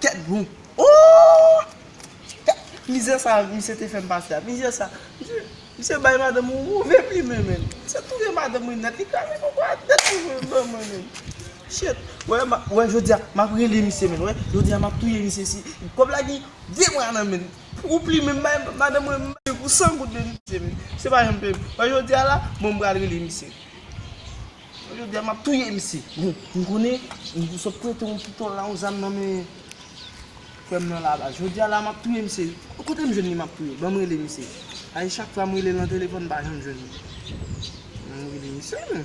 Tèt bon ooh Mizè sa misye te fèm pase a Mizè sa Misye bay madanm yon move plimen menn Misye touye madanm mwen nèt Li kraze koko a nèt pou mwen ban mwen menn Shit Wè ma wè jodi a map rele misye menn wè Jodi a map touye misye si Kòb la gen 2 mwa nan menn Ou plimen m bay madanm mwen m bay pou 100 goud de misye menn Misye pa janm peyem Wè jodi a la bon m pral rele misye. Yo di a map touye misye. Bon m konnen m sot prete yon pitol la yon zam nan men frèm nan la baz. Jodi a la map touye misye. Kote m jwenn li map touye. Banm rele misye. Sa se chak fwa m rele nan telefòn m pa janm jwenn li. Banm rele misye non.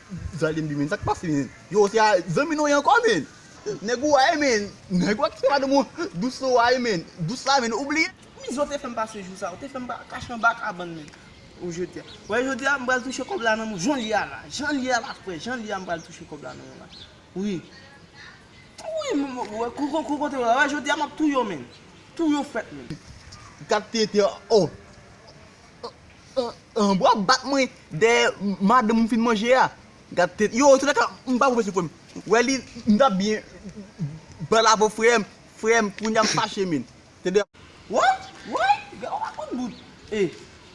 Zale mdi men sak pase men yo se a zanmi nou ye ankò men nèg ou a ye men nèg ou a kite madanm ou dous sou a ye men dous la men ou bliye. Miss ou te fèm pase jou sa ou te fèm kache anba kabann men ou jodia wè jodia m pral touche kòb la nan men w jan l ye a la jan l ye a la frè jan l ye a m pral touche kòb la nan men w la wi wi m wè kou kou kote w la wè jodia map touye w men touye w frèt men. Gad tenten oh. Wap bat mwen dèyè madanm ou fin manje a gad tèt yo antou daka m pa pwofesè frèm wè li m tap byen bal avèw frèm frèm kounya m fache menn tande woy woy gade yon pakòt bout e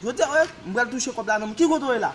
jodi a wè m pral touche kòb la nan men ki kote w ye la.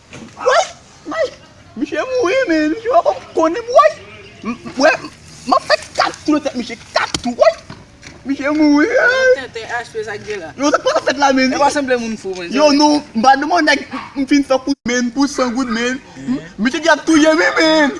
Woy woy misye mouri men misye poko konnen woy wè map fè 4 tou nan tèt misye 4 tou woy misye mouri eeyy yo sak pata fèt la men yo nou mpa deman nèg m fin fè kout men pou 100 goud men misye di yap touyem wi men.